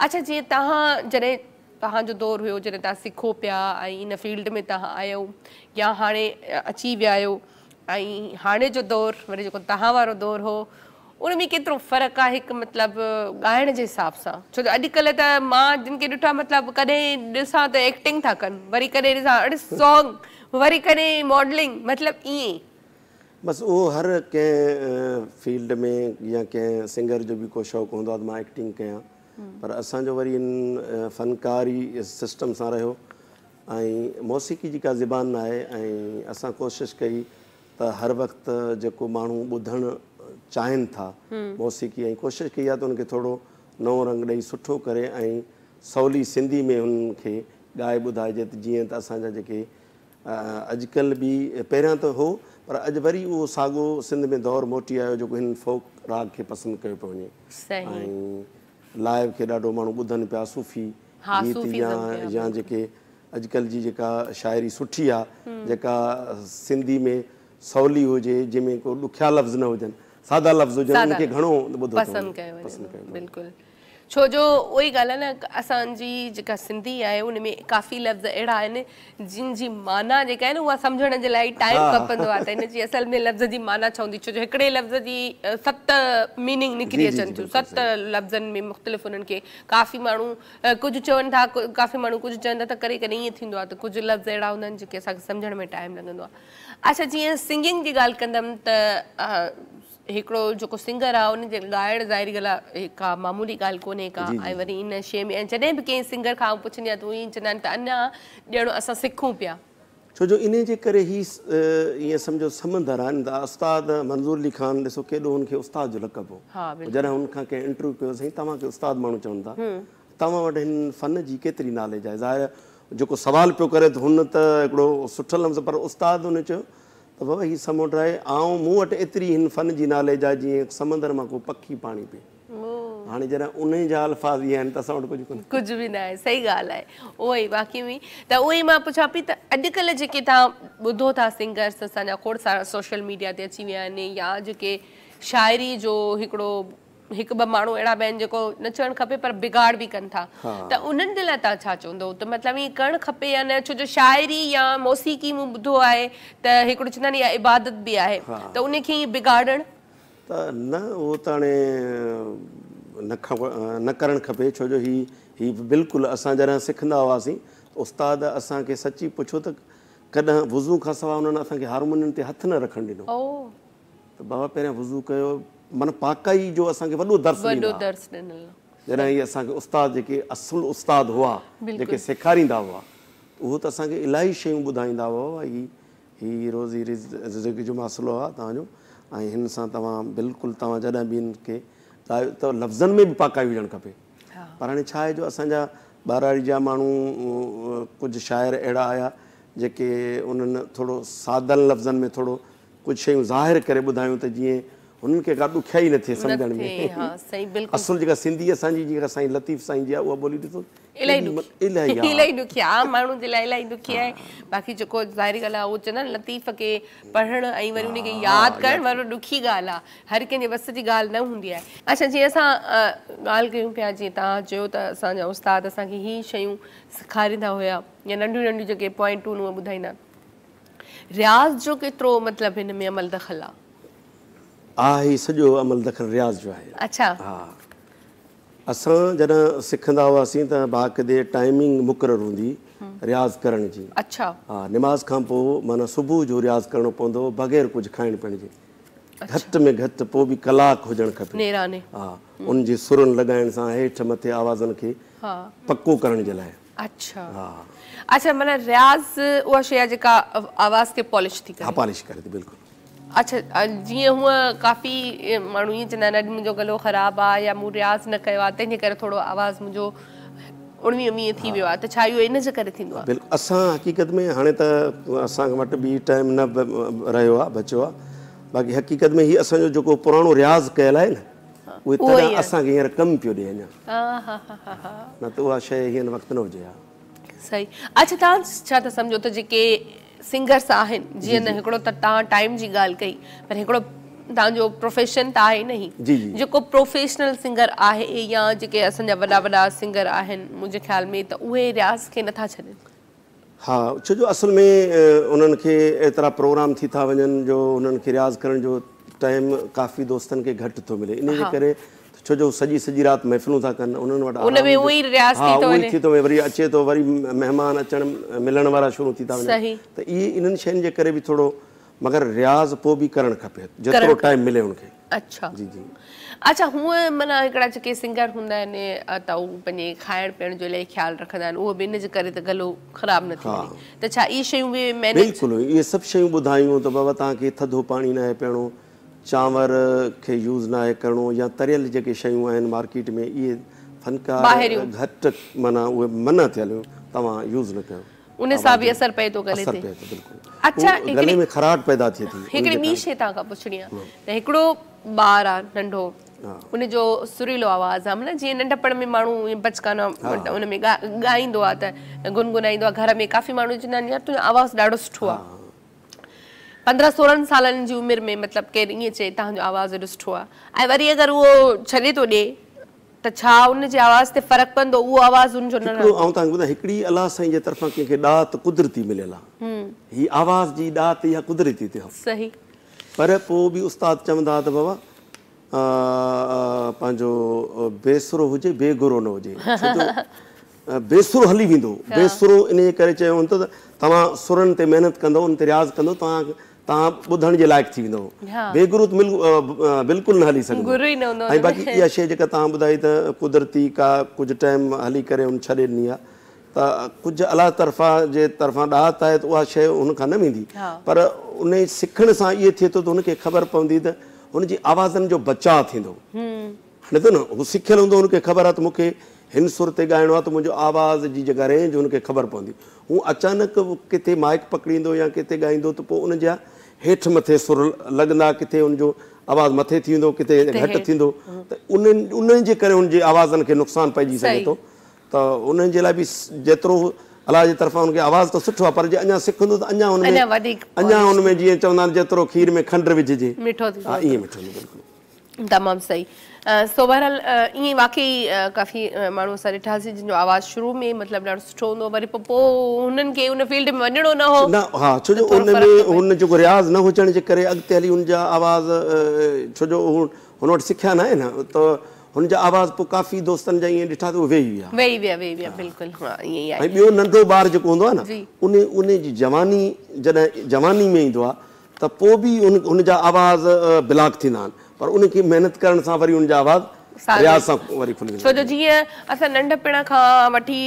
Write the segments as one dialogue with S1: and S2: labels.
S1: اڇا جيئن توهان جڏهن توهان جو دور هيو جڏهن توهان سکو پيا ۽ ان فيلڊ ۾ توهان آيو يا هاڻي اچي ويا آهيو ۽ هاڻي جو دور وري جيڪو توهان وارو دور هو ان ۾ ڪيترو فرق آهي هڪ مطلب ڳائڻ جي حساب سان ڇو جو اڄڪلهه ته مان جن کي ڏٺا مطلب ڪڏهن ڏسان ته ايڪٽنگ ٿا ڪن وري ڪڏهن ڏسان اڙي سانگ وري ڪڏهن ماڊلنگ مطلب ائين بس اهو
S2: هر ڪنهن فيلڊ ۾ يا ڪنهن سنگر جو به ڪو شوق هوندو آهي ته مان ايڪٽنگ ڪيان پر اسان جو وري ان فنڪاري سسٽم سان رهيو ۽ موسيقي جي ڪا زبان نه آهي ۽ اسان ڪوشش ڪئي ته هر وقت جيڪو ماڻهو ٻڌڻ چاهين ٿا موسيقي ۽ ڪوشش ڪئي آهي ته ان کي ٿورو نئون رنگ ڏئي سٺو ڪري ۽ سولي سنڌي ۾ هن کي ڳائي ٻڌائجي ته جيئن ته اسان جا جيڪي اڄڪلهه به پهريان ته هو پر اڄ وري اهو ساڳو سنڌ ۾ دور موٽي آيو جيڪو هن فوڪ راڳ کي پسند ڪيو پيو وڃي ۽ لائيو کي ڏاڍو ماڻهو ٻڌن پيا صوفي گيت يا جيڪي اڄڪلهه جي جيڪا شاعري سٺي آ جيڪا سنڌي ۾ سولي هجي جنهن ۾ ڪو ڏکيا لفظ نه هجن سادا لفظ هجن ان کي گهڻو ٻڌو
S1: پسند ڪيو وڃي ٿو ڇو جو اهو ئي ڳالهه آهي نه اسان جي جيڪا سنڌي آهي ان ۾ ڪافي لفظ اهڙا آهن جن جي معنيٰ جيڪا آهي نه اها سمجهڻ جي لاء ٽائيم کپندو آهي ته ان جي اصل ۾ لفظ جي معنيٰ ڇا هوندي ڇو جو هڪڙي لفظ جي ست ميننگ نڪري اچن ٿيون ست لفظن ۾ مختلف انهن کي ڪافي ماڻهو ڪجهه چون ٿا ڪافي ماڻهو ڪجهه چون ٿا ته ڪڏهن ڪڏهن ائين ٿيندو آهي ته ڪجهه لفظ اهڙا هوندا آهن جيڪي اسان کي سمجهڻ ۾ ٽائيم لڳندو آهي اڇا جيئن سنگنگ جي ڳالهه ڪندم ته هڪڙو جيڪو سنگر آ ان جي ڳائڻ ظاهري ڳالهه آ ڪا معمولي ڳالهه ڪونهي ڪا ۽ وري ان شيء ۾ جڏهن به ڪنهن سنگر کان آئون پڇندي آهيان ته اهي چوندا آهن ته اڃا ڄڻ اسان سکون پيا. ڇو جو انهي جي
S2: ڪري هي ائين سمجهو سمنڊر آهن ته استاد منظور علي خان ڏسو ڪيڏو هن کي استاد جو لقب هو جڏهن هن کان ڪنهن انٽرويو ڪيو سائين توهان کي استاد ماڻهو چون ٿا توهان وٽ هن فن جي ڪيتري ناليج آهي؟ ظاهر جيڪو سوال پيو ڪري ته هن ته هڪڙو سٺ لفظ پر استاد هن چيو ته بابا هي سمنڊ آهي آئون مون وٽ ايتري هن فن جي ناليج آهي جيئن هڪ سمندر مان ڪو پکي پاڻي پي هاڻي جڏهن انهي جا الفاظ هي آهن ته اسان وٽ ڪجهه ڪونهي. ڪجهه به ناهي سهي
S1: ڳالهه آهي اهو ئي واقعي ۾ ته اهو ئي مان پڇان پي ته اڄڪلهه جيڪي توهان ٻڌو ٿا سنگرس اسان جا کوڙ سارا سوشل ميڊيا تي اچي ويا آهن يا جيڪي شاعري جو هڪڙو هڪ ٻه ماڻهو اهڙا به آهن جيڪو نه چوڻ کپي پر بگاڙ به ڪن ٿا ته انهن جي لاء تان ڇا چوندو ته مطلب ائين ڪرڻ کپي يا نه ڇو جو شاعري يا موسيقي مون ٻڌو آهي ته هڪڙو چوندا آهن اها عبادت به آهي ته انهي کي ائين بگاڙڻ. ته نه
S2: اهو ته هاڻي نه کپ نه ڪرڻ کپي ڇو جو هي هي بلڪل اسان جڏهن سکندا هئاسين ته استاد اسان کي سچي پڇو ته ڪڏهن وضو کان سواء انهن اسان کي هارمونين تي هٿ نه رکڻ ڏنو. ته بابا پهريان وضو ڪيو معنيٰ پاڪائي جو اسان کي وڏو درس ڏنل آهي جڏهن هي اسان کي استاد جيڪي اصل استاد هئا جيڪي سيکاريندا هئا ته اهو ته اسان کي الاهي شيون ٻڌائيندا هئا بابا هي هي روزي رزق جو مسئلو آهي توهان جو ۽ هن سان توهان بلڪل توهان جڏهن به هن کي لايو ته لفظن ۾ به پاڪائي هجڻ کپي پر هاڻي ڇا آهي جو اسان جا ٻهراڙي جا ماڻهو ڪجهه شاعر اهڙا آيا جيڪي انهن ٿورو سادن لفظن ۾ ٿورو ڪجهه شيون ظاهر ڪري ٻڌايون ته جيئن هنن کي ڪا ڏکيائي نه ٿئي سمجهڻ ۾ اصل جيڪا سنڌي اسان جي جيڪا سائين لطيف سائين جي آهي اها ٻولي ڏسو الائي
S1: ڏکي آهي عام ماڻهن جي لاء الائي ڏکي آهي باقي جيڪو ظاهري ڳالهه آهي اهو چئندا آهن لطيف کي پڙهڻ ۽ وري ان کي ياد ڪرڻ وري ڏکي ڳالهه آهي هر ڪنهن جي وس جي ڳالهه نه هوندي آهي اچا جي اسان ڳالهه ڪيون پيا جي تان چيو ته اسان جا استاد اسان کي هي شيون سيکاريندا هيا يا ننڍيون ننڍيون جيڪي پوائنٽون ٻڌائيندا رياض جو ڪيترو مطلب هن ۾ عمل دخل آ؟ آ هي سڄو عمل
S2: دخل رياض جو آهي. اڇا. ها اسان جڏهن سکندا هئاسين ته باقدي ٽائمنگ مقرر هوندي رياض ڪرڻ جي. اڇا. ها نماز
S1: کان
S2: پو معنيٰ صبح جو رياض ڪرڻو پوندو هو بغير ڪجهه کائڻ پيئڻ جي. گهٽ ۾ گهٽ پو به ڪلاڪ هجڻ کپي. نيراني. ها ان جي سرن لڳائڻ سان هيٺ مٿي آوازن کي پڪو ڪرڻ جي لاء. اڇا
S1: اڇا معنيٰ رياض اها شيء آهي جيڪا آواز کي پالش ٿي ڪري ها پالش ڪري ٿي بلڪل
S2: اڇا
S1: جيئن هونء ڪافي ماڻهو ائين چوندا آهن اڄ منهنجو گلو خراب آهي يا مون رياض نه ڪيو آهي تنهن جي ڪري ٿورو آواز منهنجو اڻويهه ويهه ٿي ويو آهي ته ڇا اهو ان جي ڪري ٿيندو آهي بلڪل اسان حقيقت ۾
S2: هاڻي ته اسان وٽ به ٽائيم نه رهيو آهي بچيو آهي باقي حقيقت ۾ هي اسان جو جيڪو پراڻو رياض ڪيل آهي نه اهي تڏهن اسان کي هينئر ڪم پيو ڏي اڃا نه ته اها شيء هينئر وقت نه هجي ها. صحيح
S1: اڇا توهان ڇا ٿا سمجهو ته جيڪي سنگرس آهن جيئن نه هڪڙو ته توهان ٽائيم جي ڳالهه ڪئي پر هڪڙو توهان جو پروفيشن ته آهي نه هي جيڪو پروفيشنل سنگر آهي يا جيڪي اسان جا وڏا وڏا سنگر آهن منهنجي خيال ۾ ته اهي رياض کي نه ٿا ڇڏين. ها
S2: ڇو جو اصل ۾ انهن کي ايترا پروگرام ٿي ٿا وڃن جو انهن کي رياض ڪرڻ جو ٽائيم ڪافي دوستن کي گهٽ ٿو ملي انهي جي ڪري ڇو جو سڄي سڄي رات محفلون ٿا ڪن انهن وٽ آرام جو ها اهو ئي ٿي ٿو وڃي وري اچي ٿو وري مهمان اچڻ ملڻ وارا شروع ٿي ٿا وڃن ته اهي انهن شين جي ڪري به ٿورو مگر رياض پوء به ڪرڻ کپي جيترو ٽائيم ملي ان کي. اڇا جي جي
S1: اڇا هونء معنيٰ هڪڙا جيڪي سنگر هوندا آهن ته هو پنهنجي کائڻ پيئڻ جو الائي خيال رکندا آهن اهو به ان جي ڪري ته گلو خراب نه ٿي وڃي ته ڇا اهي شيون به مينيج بلڪل اهي سڀ شيون ٻڌايون ته بابا توهان کي ٿڌو پاڻي ناهي پيئڻو چانور کي يوز ناهي ڪرڻو يا تريل جيڪي شيون آهن مارڪيٽ ۾ اهي فنڪار گهٽ معنيٰ اهي منع ٿيل هيون توهان يوز نه ڪيو ان سان به اثر پئي ٿو گلي تي اچا گلي ۾ خراٽ پيدا ٿئي ٿي هڪڙي ٻي شي تان کان پڇڻي آ ته هڪڙو ٻار آ ننڍو ان جو سريلو آواز آ مطلب جي ننڍپڻ ۾ ماڻهو بچڪانا ان ۾ ڳائيندو آ ته گنگنائيندو آ گهر ۾ ڪافي ماڻهو چوندا آهن يار تنهنجو آواز ڏاڍو سٺو آ پندرهن سورهن سالن جي عمر ۾ مطلب ڪير ائين چئي تنهنجو آواز ڏاڍو سٺو آ ۽ وري اگر اهو ڇڏي ٿو ڏي ته ڇا ان جي آواز تي فرق پوندو اهو آواز ان جو نه هڪڙو آئون توهان کي ٻڌان هڪڙي الله
S2: سائين جي طرفان ڪنهن کي ڏات قدرتي مليل آ هي آواز جي ڏات اها قدرتي تي هئ صحيح پر پو به استاد چوندا ته بابا پنهنجو بي سرو هجي بي گرو نه هجي ڇو جو بي سرو هلي ويندو بي سرو انهي ڪري چيو هوندو ته توهان سرن تي محنت ڪندو ان تي رياض ڪندو توهان تان ٻڌڻ جي لائق ٿي ويندؤ. بي گروء ته بلڪل نه هلي سگهندو. گرو ئي نه هوندو ان ۾. ۽ باقي اها شيء جيڪا تان ٻڌائي ته قدرتي ڪا ڪجهه ٽائيم هلي ڪري هن ڇڏي ڏني آهي ته ڪجهه الله طرفان جي طرفان ڏاهت آهي ته اها شيء هن کان نه ويندي پر انهي سکڻ سان اهي ٿئي ٿو ته هن کي خبر پوندي ته هن جي آوازن جو بچاء ٿيندو. نه ته نه هو سکيل هوندو هن کي خبر آهي ته مونکي هن سر تي ڳائڻو آهي ته منهنجو آواز جي جيڪا رينج هن کي خبر پوندي هو اچانڪ ڪٿي مائيڪ پڪڙيندو يا ڪٿي ڳائيندو ته پوء ان جا هيٺ مٿي سر لڳندا ڪٿي هن جو آواز مٿي ٿي ويندو ڪٿي گهٽ ٿيندو ته ان انهن جي ڪري هن جي آوازن کي نقصان پئجي سگهي ٿو ته انهن جي لاء به جيترو الله جي طرفان هن کي آواز ته سٺو آهي پر جي اڃا سکندو ته اڃا هن ۾ اڃا هن ۾ جيئن چوندا آهن جيترو کير ۾ کنڊ وجهجي مٺو ٿيندو ها ائين مٺو ٿيندو بلڪل تمام صحيح
S1: سو بهرحال ائين واقعي ڪافي ماڻهو اسان ڏٺاسين جن جو آواز شروع ۾ مطلب ڏاڍو سٺو هوندو وري پوء پوء هنن کي ان فيلڊ ۾ وڃڻو نه هو نه ها ڇو جو ان
S2: ۾ هن جيڪو رياض نه هجڻ جي ڪري اڳتي هلي ان جا آواز ڇو جو هن وٽ سکيا ناهي نه ته هن جا آواز پوء ڪافي دوستن جا ائين ڏٺا ته اهي ويهي ويا ويهي ويا ويهي ويا بلڪل ها ائين ئي آهي ۽ ٻيو ننڍو ٻار جيڪو هوندو آهي نه ان ان جي جواني جڏهن جواني ۾ ايندو آهي ته پوء به ان ان جا آواز بلاڪ ٿيندا آهن پر ان کي محنت ڪرڻ سان وري ان جا آواز رياض سان وري کلي ويندا آهن ڇو جو جيئن اسان
S1: ننڍپڻ کان وٺي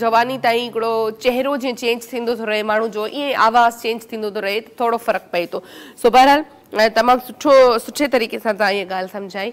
S1: جواني تائين هڪڙو چهرو جيئن چينج ٿيندو ٿو رهي ماڻهو جو ائين ئي آواز چينج ٿيندو ٿو رهي ته ٿورو فرق پئي ٿو سو بهرحال تمام سٺو سٺي طريقي سان تهان هيء ڳالهه سمجهائي